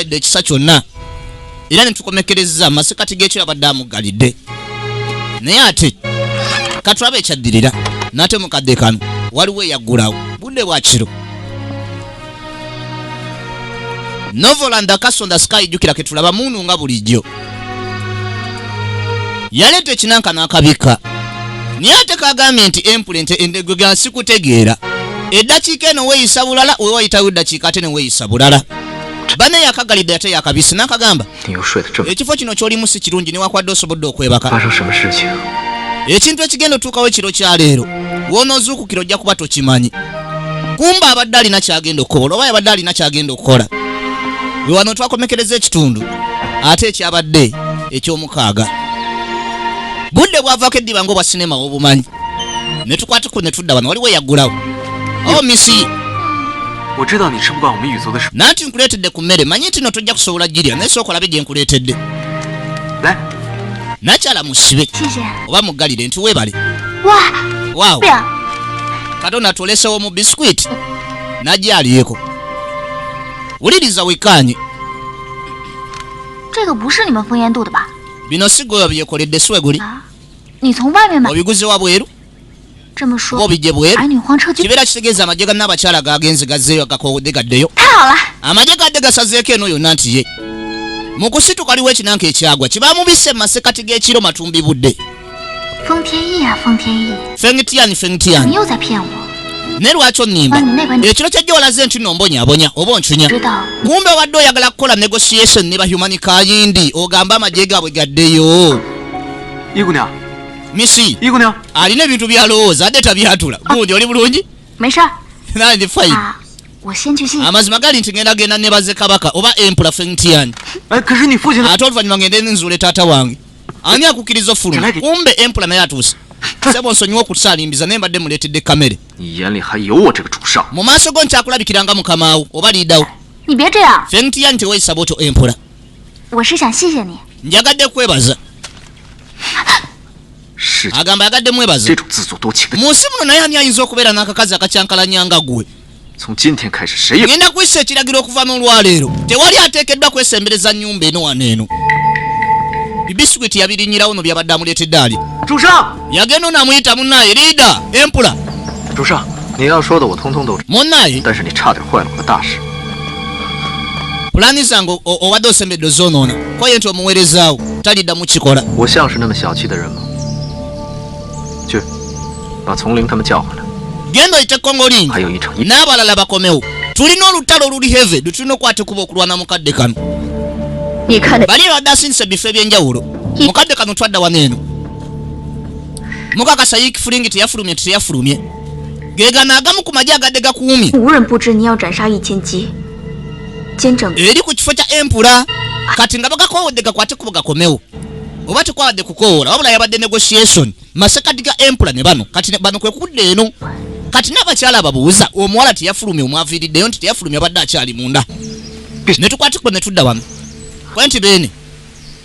yadde ekisa kyonna era netukomekereza amasekati gekyo yabadde amugalidde naye ate katulaba ekyaddirira nate mukadde kano waliwo eyaggulawo budde bwakiro novolanda kasonda sky jukira ketulaba munu nga bulijjo yaleeta ekinanka n'akabika naye ate kagambye nti empulente endegwe gansikutegeera eddakiika eno weeyisa bulala wewayitawo eddakiika ate ne weeyisa bulala bane yakagalidde ate yakabisi nakagamba ekifo kino kyolimu si kirungi newakwadde osobodde okwebaka ekintu ekigenda otuukawo ekiro kyaleero wonoozuukukira ojja kuba tokimanyi kumba abadde alina kyagenda okukola oba yabadde alina kyagenda okukola we wano twakomekereza ekitundu ate ekyabadde ekyomukaaga budde bwavaako eddiba ngaobwa sinema wobumanyi netukwatiko netudda wano waliwo eyaggulawo omisi oh, nanti nkuleetedde ku mmere manyi nti no tojja kusobola girya naye sooka olabe gye nkuleetedde nakyala musibe oba muggalire nti weebale waawo katonda tulesewo mu bisikwiti nagyalyeko wuliriza wekaanye bino sigoyo byekoledde siweguli obiguze wabweru ng'obijje bweru kibeera kitegeeza amagye ga naabakyala gaagenze gazzeeyo agakoowodde gaddeyo amagye gadde gasazeeko eno yonna nti ye mu kusituka liwo ekinanka ekyagwa kibamubise mu masekati g'ekiro matumbi budde fengitiani fengitiani naye lwaki onimba ekiro kyajja olaze nti nombonyabonya oba oncunya kumbe obadde oyagala kukola negotiation ne bahumani kayindi ogamba amagye gaabwe gaddeyo misi alina ebintu byalowooza ate tabyatula ah. gundi oli bulungi nandi fine ah, amazima gali nti ngenda genda nebaze kabaka oba empula fengtian eh, ate oluvanyuma ngende nzuule taata wange ani akukkiriza ofuluma kumbe empula naye atuuse sebo nsonyiwa okusalimbiza naye mbadde muleetedde kamere mu maaso go nkyakulabikiranga mukamawo oba liidawo fengtian teweyisa bwotyo empula njagadde kwebaza agamba yagadde mwebaza mu nsi muno naye ani ayinza okubeera n'akakazi akakyankalanya nga gwe ngenda kuyisa ekiragiro okuva n'olwaleero tewali ateekeddwa kwesembereza nnyumba eno wano eno bibiswiti yabirinyirawo no byabadde amuleetedde ali yagenda ono amuyita munnaye liida empula munnaye pulaani zange obadde osembedde ozoonoona kwaye nti omuweerezaawo taliddamu kikola genda oyite kongolingi n'abalala bakomewo tulina olutalo oluli heve lwetulina okukwata kuba okulwana mukadde kano bali ebadde asindisa ebifo ebyenjawulo mukadde kano twadda wano eno mukakasa yik fulingi teyafulumye teteyafulumye gegana agamu ku maji agadde gakuumye eri ku kifo kya empula kati nga bagakowodde gakwate kubo gakomewo oba tekwawadde kukoola wabula yabadde negotiation masekati ga empula ne bano kati bano kwekudda eno kati n'abakyala ababuuza omuwala teyafulumye omwaviiriddeyo nti teyafulumye abadde akyali munda netukwatikuba netudda wano kwe nti beene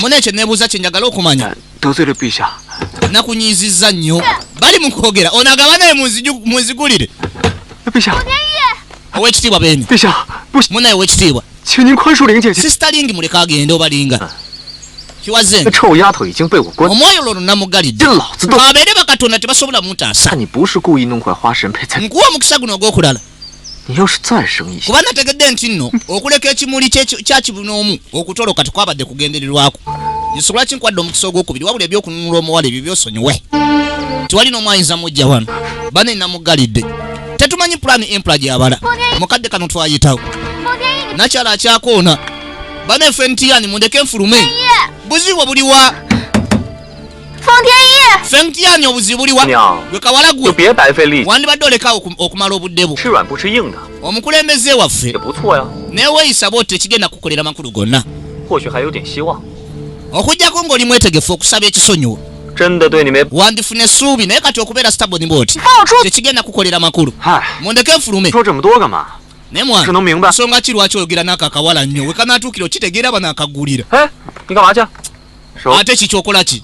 muna ekyo nebuuza kye njagala okumanya nakunyiizizza nnyo bali mu kwogera ono agaba naye munzigulire owekitiibwa beni munaye owekitiibwa sisitalingi muleka agende obalinga ah. omwoyo lwono namugalidde abeere bakatonda tebasobola mutaasa nkuwa omukisa guno ogwokulala kuba nategedde nti nno okuleka ekimuli kyakibunoomu okutoloka tekwabadde kugendererwako nsonga lwaki nkwadde omukisa ogwokubiri wabula ebyokununula omuwala ebyo byosonyiwe tewali n'omu ayinza mujja wano bane namugalidde tetumanyi pulaani empula gyabala mukadde kano twayitawo nakyala akyakoona bane fentiyani mundeke nfulume buzibu buliwa 方天一夜。Feng Tian obuzibu buliwa? Gwe kawala gwe. Tubye bai fei li. Wandi badde oleka okumala obudde bu. Shi ruan bu shi ying da. Omukulembeze waffe. Ye bu tuwa ya. Ne weyisa bote ekigenda kukolera makulu gonna. Ho shi ha yo dian shi wa. Okujjako ng'oli mwetegefu okusaba ekisonyiwo. wandifuna essuubi naye kati okubeera staboni bwoti tekigenda kukolera makulu mundeke nfulume naye mwana nsonga ki lwaki oyogera n'ako akawala nnyo wekanatuukira okitegeera bano akagulira ate ki kyokola ki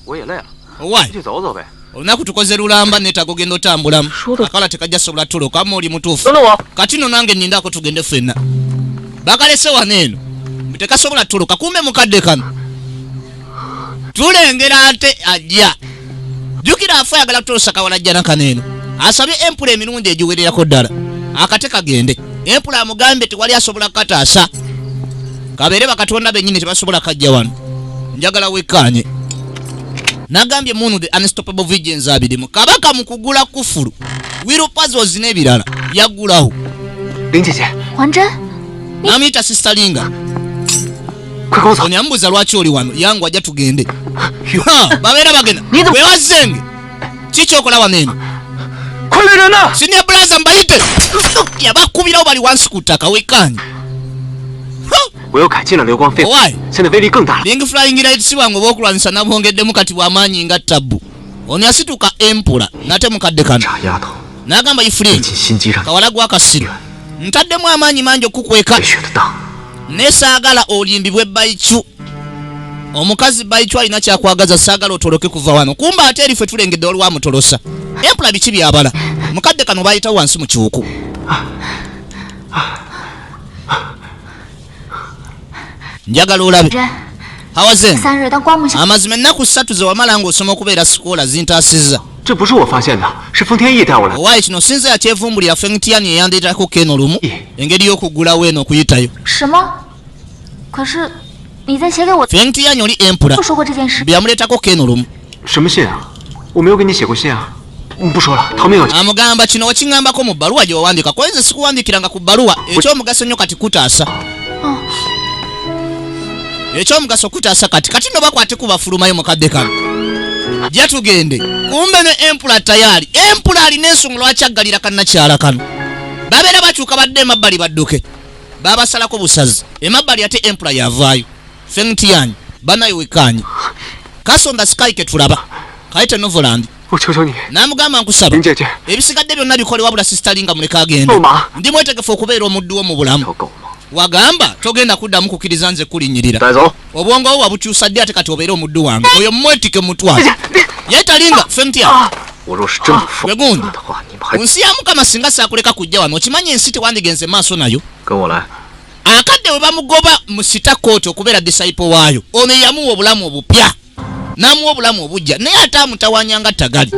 olunaku tukoze lulamba netaga ogenda otambulamu akala tekajja sobola tuloka ama oli mutuufu kati no nange nindako tugende fenna bakalese wano eno tekasobola tuloka kumbe mukadde kano tulengera ate ajja jukira afa ayagala kutuusa kawalajjana kano eno asabye empula emirundi egiwererako ddala akate kagende empula amugambye tewali asobola kukataasa kabeere bakatonda benyini tebasobola kajja wano njagala wekkaanye nagambye munu the unstoppable vigens abirimu kabaka mu kugula kufulu wiro pazos n'ebirala yaggulawo namuyita sistalinga Ono yambuuza lwaki oli wano yangu ajja tugende babeera bagenda wewazenge kikyokola wano eno sinia bulaza mbayite yabakubirawo bali wansi ku ttaka wekaanyi lingi flying light si bwangu obwokulwanyisa nabwongeddemu kati bwamaanyi nga tabbu ono yasituka empula nate mukadde kano nagamba ifulin kawala gwakasiru ntaddemu amaanyi mangi okukukweka naye saagala olimbibwe baicu omukazi baicu alina kyakwagaza saagala otoloke kuva wano kumba ate erife tulengedde waliwo amutolosa empula biki byabala mukadde kano bayitawo wansi mu kiwuku njagala olabe hawaze amazima ennaku ssatu ze wamala ng'osoma okubeera sikoola zintaasizza owaaye kino sinze yakyevumbulira fengitiyani eyandeetako keno lumu engeri y'okuggulawo eno okuyitayo fengitiyani oli empura byamuleetako keno lumu amugamba kino wakiŋambako mu bbaluwa gye wawandiika kuba nze sikuwandiikiranga ku bbaluwa ekyomugaso nnyo kati kutaasa oh. ekyomugaso kutaasa kati kati no bakwate kubafulumayo mukadde kano jatugende kumbe ne empula tayaali empula alina ensonga lwaki aggalira kannakyala kano babeera bakyuka badde emabbali badduke babasalako busazi emabbali ate empula yavaayo ffe mutiyanyi banaye wekkaanye kasonda sikayi ketulaba kayite novoland namugamba nkusaba ebisigadde byonna bikole wabula sisitalinga muleka agenda ndi mwetegefu okubeera omuddu wo mu bulamu wagamba togenda kuddamu kukiriza nze kulinyirira obwongo wo wabukyusa ddi ate kati obeere omuddu wange oyo mwetike mutwalo ye talinga fe mutya ah. wegundi ah. nsi ya mukama singa sakuleka kujja wano okimanyi ensi tewandigenze maaso nayo akadde bwe bamugoba mu sita kooti okubeera disaipo waayo ono eyamuwa obulamu obupya n'amuwa obulamu obujja naye ate amutawanya nga tagali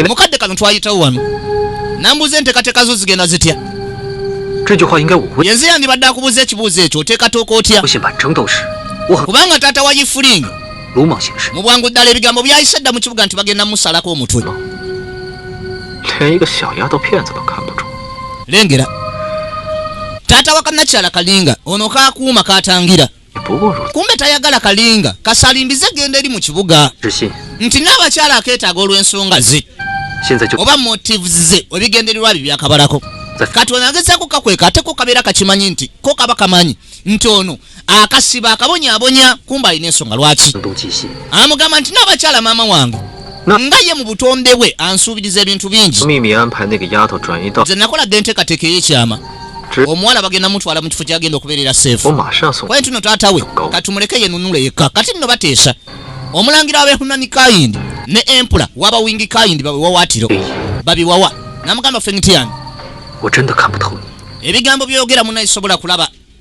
mukadde kano twayitawo wano nambuuza enteekateeka zo zigenda zitya yenze yandibadde akubuuza ekibuuzo ekyo oteekatooka otya kubanga taata wa yifulingi mu bwangu ddala ebigambo byayise dda mu kibuga nti bagenda musalako omutwe lengera taata wa kanakyala kalinga ono kakuuma katangira kumbe tayagala kalinga kasalimbize genda eri mu kibuga nti n'abakyala akeetaaga olw'ensonga ze oba motives ze ebigendererwa bye byakabalako kati onagezako kakweka ate ko kabeera kakimanyi nti ko kaba kamanyi nti ono akasiba akabonyabonya kumba alina ensonga lwaki amugamba nti n'abakyala maama wange nga ye mu butonde bwe ansuubiriza ebintu bingi nze nakolaga enteekateeka ey'ekyama omuwala bagenda mutwala mu kifo kyagenda okubeerera seefu kwaye tuno taata we katumuleke yenunule yekka kati nno bateesa omulangira wabehunani kayindi ne empula waba wingi kayindi bawewawaatiro babiwawa namugamba fengitiani ebigambo byogera munaisobola kulaba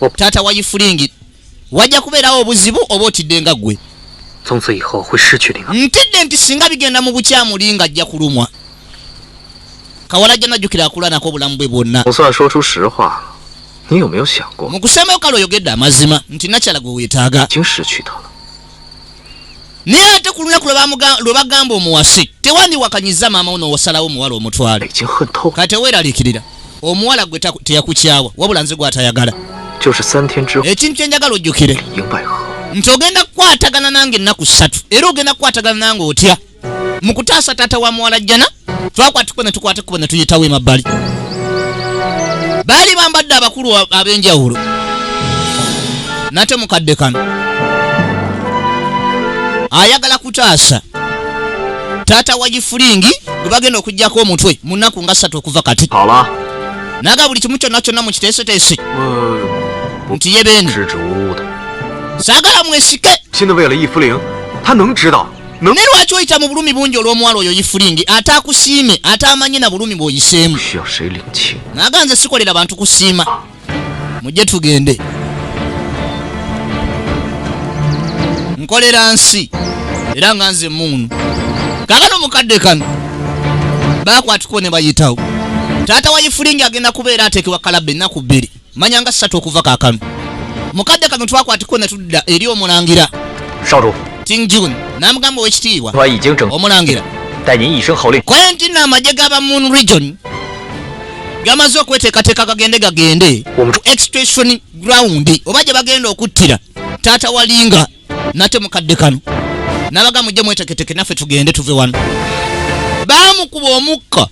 Okutaata wa Yifulingi wajja kubeerawo obuzibu oba otidde nga ggwe. Ntidde nti singa bigenda mu bukyamu Linga ajja kulumwa. Kawala ajja najjukira akulanako obulamu bwe bwonna. Mu kusembao kale oyogedde amazima nti nakyala gwe weetaaga. naye ate ku lunaku lwe bagamba omuwase tewandiwakanyiza maama uno wasalawo omuwala omutwale ka teweeraliikirira omuwala gwe teyakukyawa wabula nze gwatayagala ekintu kyenjagala ojjukire nti ogenda kukwatagana nange ennaku ssatu era ogenda kukwatagana nange otya mu kutaasa taata wa muwala jjana twakwata ekkubo ne tukwata ekkubo ne tuyitawo emabbali baali bambadde abakulu ab'enjawulo nate mukadde kano ayagala kutaasa taata wa gifulingi gwe bagenda okugyako omutwe mu nnaku nga ssatu okuva kati naga buli kimu kyonna kyonna mu kiteeseteese nti ye beene saagala mwesike naye lwaki oyita mu bulumi bungi olw'omuwala oyo yifulingi ate akusiime ate amanye na bulumi bw'oyiseemu naga nze sikolera bantu kusiima mujje tugende nkolera nsi era nga nze muunu kakano mukadde kano bakwatiko ne bayitawo taata wa yifulingi agenda kubeera ateekebwa kalabba ennaku bbiri manya nga ssatu okuva kakano mukadde kano twakwatikko ne tudda eri omulangira tingjun n'amugamba owekitiibwa omulangira kwenti na amagye gaba moon region gamaze okweteekateeka gagende gagende ku extration ground oba gye bagenda okuttira taata walinga nate mukadde kano nabaga mujje mweteketeke naffe tugende tuve wano baamukuba omukka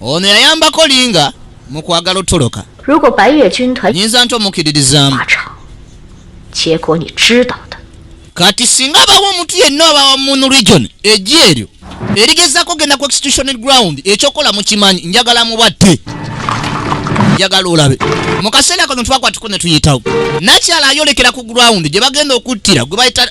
Ono yayambako linga mu kwagala otoloka. Nyinza nti omukiririzaamu. Kati singa abawo omuntu yenna oba wamuno region ejji eryo erigezako genda ku extutional ground ekyokola mukimanyi njagala mubatte njagala olabe mu kaseera kano twakwatiko ne tuyitawo nakyala ayolekera ku ground gye bagenda okuttira gwe bayita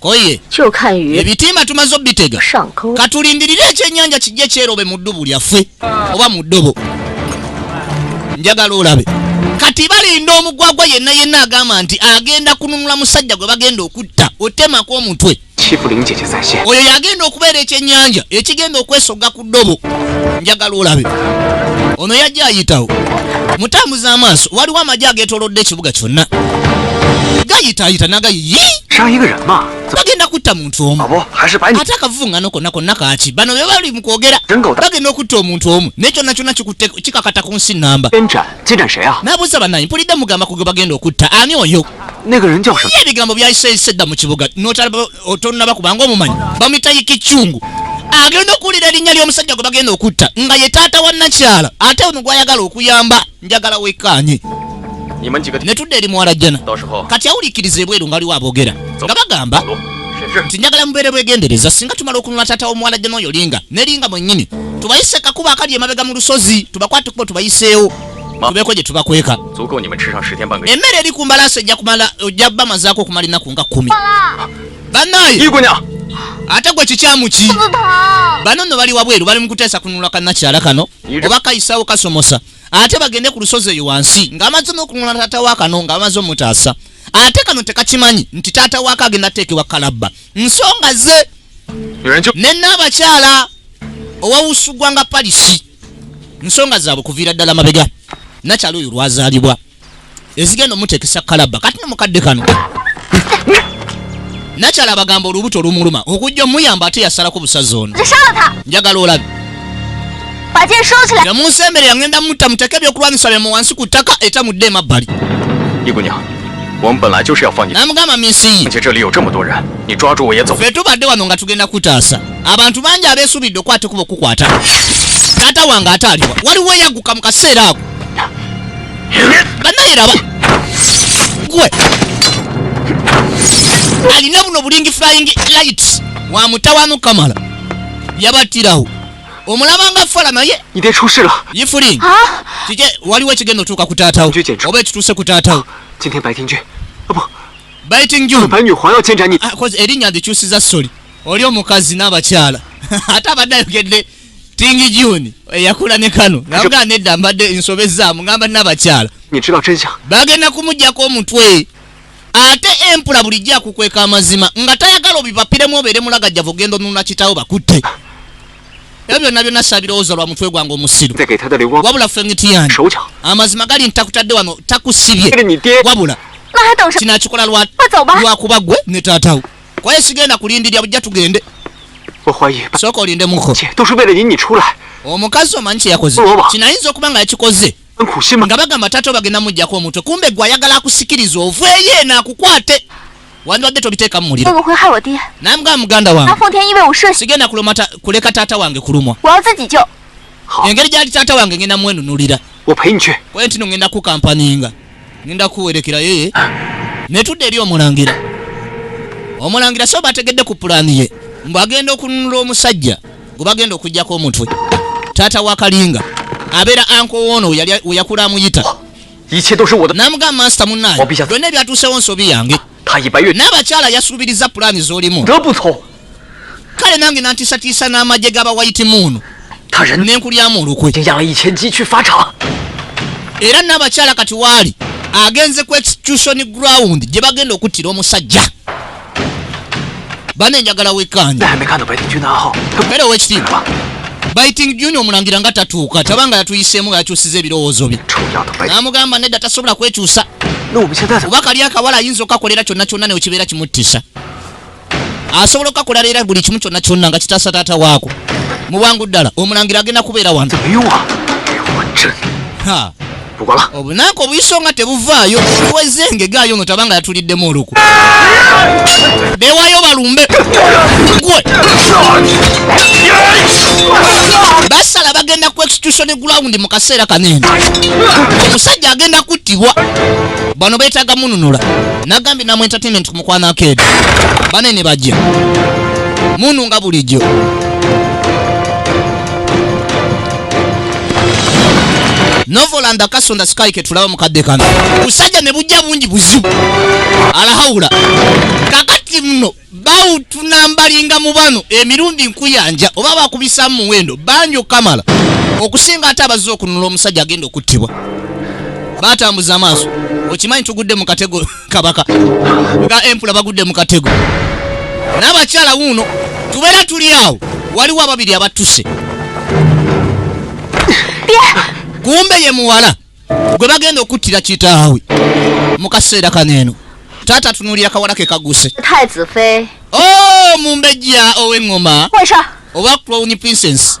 koye ebitimba tumaze obitega katulindirire ekyenyanja kijja kyerobe mu ddubu lyaffe oba mu ddobo njagala olabe kati balinda omugwagwa yenna yenna agamba nti agenda kununula musajja gwe bagenda okutta otemako omutwe oyo yagenda okubeera ekyenyanja ekigenda okwesogga ku ddobo njagala olabe ono yajja ayitawo mutambuza amaaso waliwo amagye agetolodde ekibuga kyonna gayitaayita nagayi bagenda kutta muntu omu ate akavuvungano konna konna kaki bano be bali mu kwogera bagenda okutta omuntu omu naye kyonna kyonna kikutte kikakata ku nsi namba nabuuza banayi mpulidde mugamba kuge bagenda okutta ani oyo ebigambo byayiseyise dda mu kibuga otonnaba kubanga omumanyi bamuyita yikikyungu agenda okuwulira erinnya ly'omusajja gwe bagenda okutta nga ye taata wa nakyala ate ono gwayagala okuyamba njagala wekkaanye ne tudda eri muwala jjana kati awuliikiriza ebweru nga waliwo aboogera nga bagamba nti njagala mubeere bwegendereza singa tumala okunula taata w'omuwala jjana oyo linga ne linga mwennyini tubayise kakuba akali emabega mu lusozi tubakwate kubo tubayiseewo tubeko gye tubakweka emmere eri ku mbalaasi ejja kumala ojja bamazaako okumala ennaku nga kkumi banaye ate gwe kikyamu ki bano no bali wabweru bali mu kuteesa kununula kanakyala kano oba kayisawo kasomosa ate bagende ku lusozi eyo wansi ng'amaze n'okununula taata wa kano ng'amaze omutaasa ate kano tekakimanyi nti taata waako agenda teekebwa kalabba nsonga ze ne naabakyala owawusugwa nga palisi nsonga zaabwe kuviira ddala mabega nakyalo oyo lwazaalibwa ezigenda omutekesa kalaba kati no mukadde kano nakyalo abagamba olubuto olumuluma okujja omuyamba ate yasalako busazi ono njagala olabi yamunsembere yangenda mutta muteke ebyokulwanyisa byamu wansi ku ttaka eta mudde emabbali namugamba minsiyi fe tubadde wano nga tugenda kutaasa abantu bangi abeesuubidde okukwata ekuba okukwata taata wange ate aliwa waliwo eyagguka mu kaseera ako banaye raba gwe alina buno bulingi flying light wa mutawanu kamala yabattirawo omulabanga fala naye yifuli kike waliwo ekigenda otuuka ku taatawo oba ekituuse ku taatawo ah, erinnya ndikyusiza soli oli omukazi n'abakyala ate abadde ayogedde tingi juni eyakula ne kano nabugaa nedda mbadde nsobezaamu ngamba nabakyala bagenda kumugyako omutwe ate empula bulijjo akukweka amazima nga tayagala obipapiremu obeere mulagajjavu ogenda onuna kitawo bakutte ebyo byonna byonna sabirowooza lwa mutwe gwange omusiru wabula fengitiyani amazima gali nti takutadde wano takusibye wabula kinakikola lwakuba gwe ne taatawo kwaye sigenda kulindirira bujja tugende sooka olinde muko omukazi omanyi kyeyakoze kinayinza okuba nga yakikoze nga bagamba taata obagenda mujjako omutwe kumbe gwe ayagala akusikiriza oveeyo eno akukwate wandibadde tobiteeka mu muliro naye mugamba muganda wange sigenda kuleka taata wange kulumwa engeri gyali taata wange ngenda mwenunulira kwentino ngenda kukampaninga ngenda kuwerekera yeye netudde eri omulangira omulangira so bategedde ku pulaani ye mbu agenda okununula omusajja gwe bagenda okugyako omutwe taata wa kalinga abeera ankowoono weyakula amuyita namugamba mansita munange byonna ebyatuusewo nsobi yange n'abakyala yasuubiriza pulaani z'olimu kale nange nantiisatiisa n'amagye g'abawayitimuunu ne nkulyamu olukwe era n'abakyala kati waali agenze ku execution ground gye bagenda okuttira omusajja bane njagala wekkaanye era owekitiibwa biting juni omulangira nga tatuuka tabanga yatuyiseemu nga yakyusiza ebirowoozo bye n'amugamba nedda tasobola kwekyusa oba kali akawala ayinza okakolera kyonna kyonna newekibeera kimuttisa asobola okukakola leera buli kimu kyonna kyonna nga kitaasa taata waako mu bwangu ddala omulangira agenda kubeera wano obunaku obuyiso nga tebuvaayo weze engegaayo no tabanga yatuliddemu oluku bewayo balumbe gwe basala bagenda ku execution ground mu kaseera kanene omusajja agenda kuttibwa bano beetaga mununula nagambye namu entertainment mukwano akeedi bane ne bajja munu nga bulijjo novolanda kasonda sikayi ketulaba mukadde kano busajja ne bujja bungi buzibu alahawula kakati muno bawutunambalinga mu bano emirundi nkuyanja oba bakubisamu muwendo bangi okukamala okusinga ate abazze okununula omusajja agenda okuttibwa batambuza amaaso okimanyi tugudde mu katego kabaka nga empula bagudde mu katego n'abakyala wuuno tubeera tuli awo waliwo ababiri abattuse kumbe ye muwala gwe bagenda okuttira kitaawe mu kaseera kano eno taata tunuulira kawala ke kaguse o oh, mumbejja ow'eŋŋoma oba crowni princess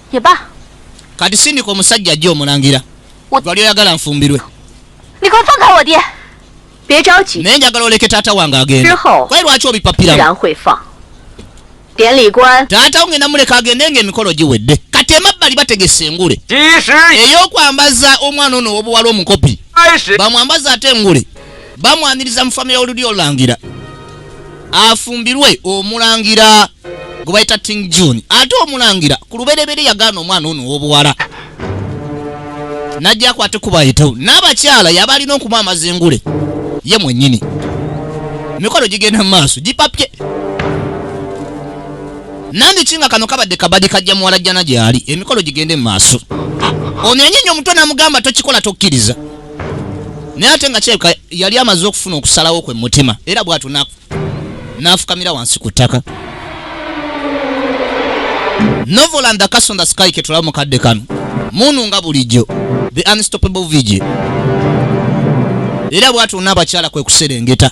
Yeba. Kati sindika omusajja ajja omulangira. Wali oyagala nfumbirwe. Niko fanga wodye. Bye chao chi. Naye njagala oleke taata wange agenda. Kwa lwaki obipapira? Ran hui fa. Dian li guan. Taata wange namuleka agende nge mikolo giwedde. Kati emabbali bategese engule. Ey'okwambaza omwana ono obuwala omukopi. Bamwambaza ate engule. bamwaniriza mu famire y'olulyo olulangira afumbirwe omulangira gwe bayita ting june ate omulangira ku lubereberye yagaana omwana ono ow'obuwala najja akwate kubayitawo n'abakyala yaba alina okuba amazengule ye mwennyini emikolo gigenda mu maaso gipapye nandiki nga kano kabadde kabadi kajja muwala jjana gyali emikolo gigende mu maaso ono yanyenye omutwe namugamba tokikola tokkiriza naye ate nga kirabika yali amaze okufuna okusalawo kwe mutima era bwatyo n'afukamira wansi ku ttaka novel and the cas on the sky ketulaba mu kadde kano munu nga bulijjo the unstoppable vigi era bwatyo n'abakyala kwe kuserengeta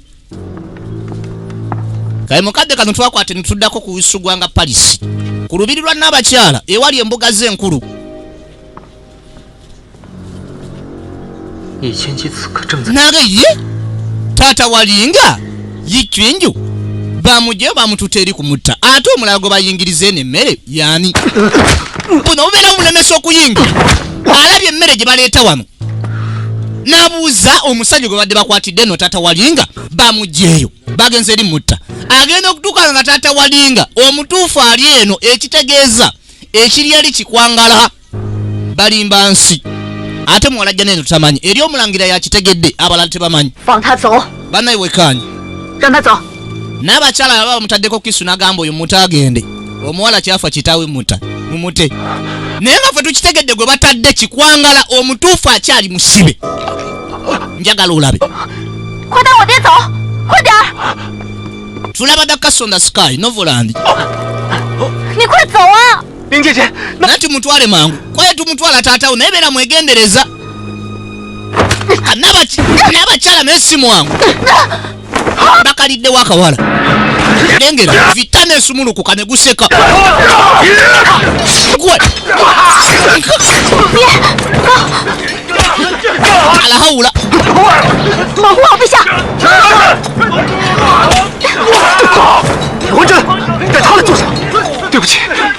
kale mukadde kano twakwate netuddako ku usugwa nga palisi ku lubiri lwa naabakyala ewali embuga ze enkulu nage ye taata walinga yikyinju bamugyeyo bamututa eri ku mutta ate omulala gwe bayingiriza eno emmere yani buno bubeera omulemesa okuyingira alabye emmere gye baleeta wano nabuuza omusajja gwe badde bakwatidde no taata walinga bamugyeyo bagenze eri mutta agenda okutuuka nga taata walinga omutuufu ali eno ekitegeeza ekiri ali kikwangala balimba nsi ate muwalajja neno tamanyi eri omulangira yakitegedde abalala tebamanyi banaye wekanye n'abakyala baba bamutaddeko kisu nagamba oyo muta agende omuwala kyafa kitawe muta mumute naye nga fe tukitegedde gwe batadde kikwangala omutuufu akyali musibe njagala olabe tulaba dakasonda sky novolandi nati mutwale mangu kwaye tumutwala taatawo naye beera mwegendereza n'abakyala naye si mwangu bakaliddewo akawala lengera vita nesumulukuka ne guseka alahawula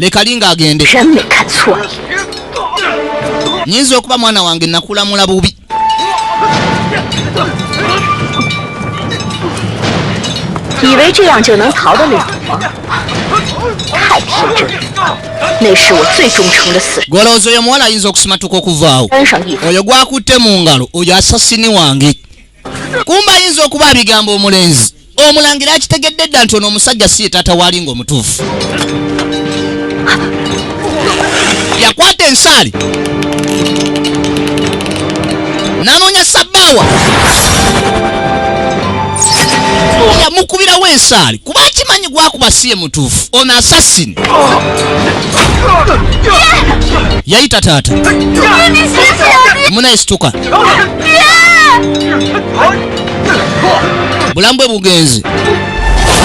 mekalinga agende nyinza okuba mwana wange nakulamula bubi golowooza oyo omuwala ayinza okusimatuka okuvaawo oyo gwakutte mu ngalo oyo asasini wange kumba ayinza okuba abigambo omulenzi omulangira akitegedde dda nti ono omusajja si ye taata waali nga omutuufu yakwata ensaali nanoonya sabbaawa yamukubirawo ensaali kuba akimanyi gwakuba si ye mutuufu ono asasini yayita taata munayisituka bulamu bwe bugenzi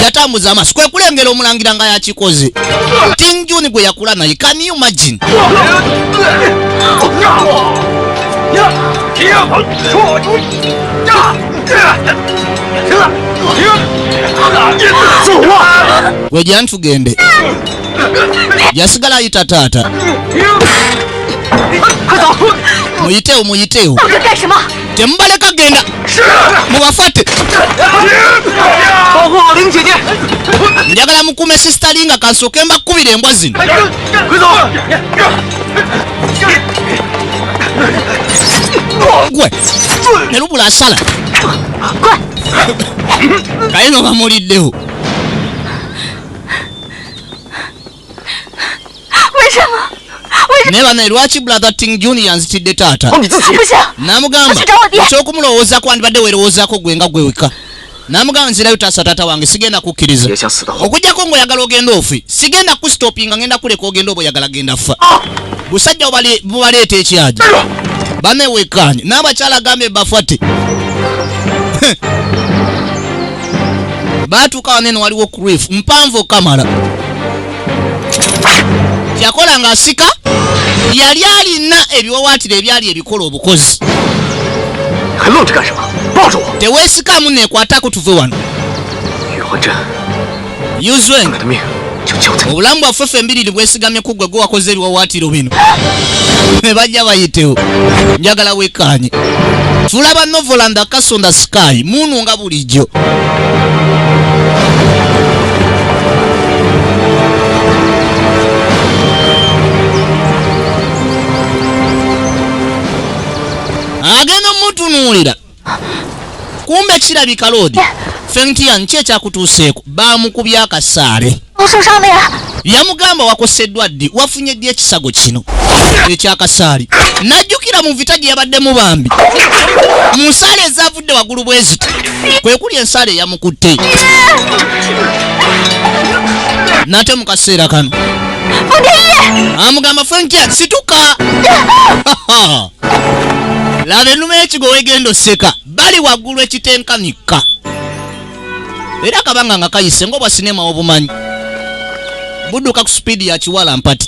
yatambuza amaaso kwe kulengera omulangira nga yakikoze king juni gwe yakula naye can you imagine wejantugende yasigala ayita taata muyitewo muyitewo temubaleka genda mubafate njagala mukume sistali nga kansooke mbakubira embwa zino gwe ne lubula asala kayino bamuliddewo naye banaye lwaki brother ting junior nzitidde taata namugamba ekyokumulowooza kwandibadde werowoozako gwe nga gweweka namugamba nzirayo taasa taata wange sigenda kukkiriza okujjako ngaoyagala ogenda ofi sigenda kustopinga ngenda kuleka ogenda oba oyagala genda fa ah! busajja bubaleeta ekyaja bamewekanye n'abakyala agambe bafate baatuuka wanene waliwo crif mpanvu okamala yakola ng'asika yali alina ebiwawaatiro ebyali ebikola obukozi teweesikamu neekwatako tuve wano yuzweng obulamu bwaffe ffe embiriri bwesigamye kuggwe gwe wakoze ebiwawaatiro bino ne bajja bayitewo njagala wekkaanye fula ba novoland akasonda sky muunu nga bulijjo agenda omutunuulira kumbe kirabika loodi fengtian ki ekyakutuuseeko baamukubya akasaale yamugamba wakoseddwa ddi wafunye ddi ekisago kino ekyakasaali najjukira mu vita gye yabaddemu bambi mu nsaala ezavudde waggulu bweziti kwe kuli ensaala eyamukutte nate mu kaseera kano amugamba fengtian situka laba enuma ekigo wegenda oseka bali waggulu ekitenkanikka era kabanga nga kayise ngaobwa sinema obumanyi budduka ku sipiidi ya kiwala mpati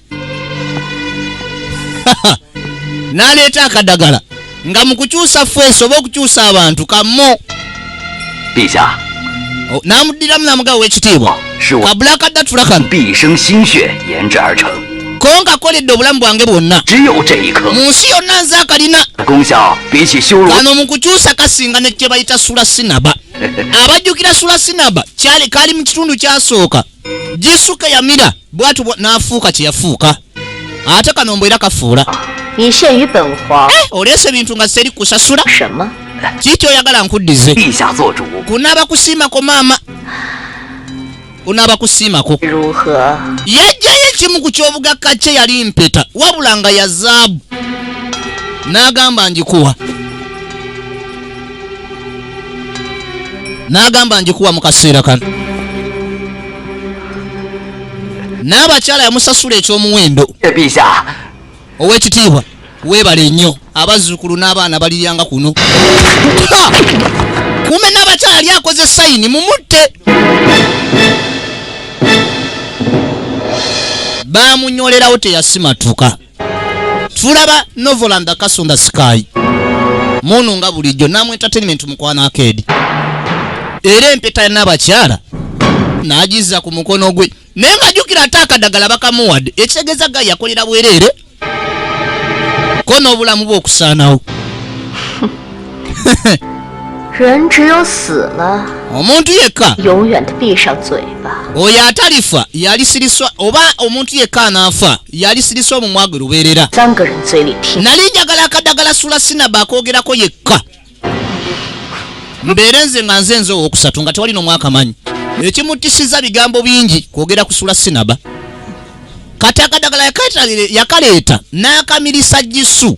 n'aleeta akadagala nga mu kukyusa feesi oba okukyusa abantu kammo oh, n'amuddiramu n'amugawa w'ekitiibwa kabula akaddatula kano ko nkakoledde obulamu bwange bwonna mu nsi yonna nze akalina kano mu kukyusa kasinga ne kye bayita sula sinaba abajjukira sula sinaba kali mu kitundu kyasooka jisuke yamira bwatu nafuuka kyeyafuuka ate kano mbu era kafuula eh, oleese ebintu nga seri kusasula kiki oyagala nkuddize kunaaba kusiimako maama kunaaba kusiimako yajjayo ekimu ku kyobugakka kye yali mpeta wabula nga yazaabu n'agamba ngikuwa n'agamba njikuwa mu kaseera kano n'abakyala yamusasula eky'omuwendo ow'ekitiibwa weebale nnyo abazzukulu n'abaana baliryanga kuno kume n'abakyala yali akoze sayini mumutte baamunyolerawo teyasimatuka tulaba novoland akasunda sky munu nga bulijjo namu entertainment mukwana akeedi era empeta yanabakyala nagiza ku mukono gwe naye nga jukira ate akadagala bakamuwadde ekitegeeza ga yakolera bwereere ko n'obulamu bwe okusaanawo omuntu yekka oyo atalifa yalisiriswa oba omuntu yekka anaafa yalisiriswa omumwa gwe lubeerera nali njagala akadagala sula sinaba akoogerako yekka mbeere nze nga nze nze owokusatu nga tewali nomwaka manyi ekimutisiza bigambo bingi kwogera kusula sinaba kati akadagala yakaleeta n'akamirisa gisu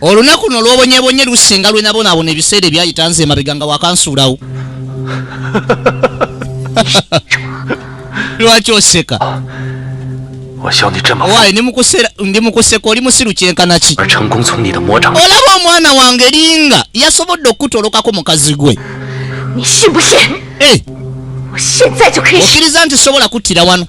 olunaku no lwobonyebonye lusinga lwenabonaabona ebiseera ebyayita nze emabega nga wakansuulawo lwaki oseka waye ndi mukuseka oli musiru kyenkanaki olaba omwana wange linga yasobodde okukutolokako mukazi gwe eh! okiriza nti sobola kuttira wano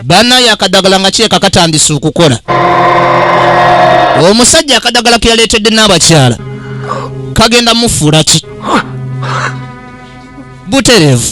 banaye akadagala nga kireka katandise okukola omusajja akadagala ke yaleetedde n'abakyala kagenda mufuula ki butereevu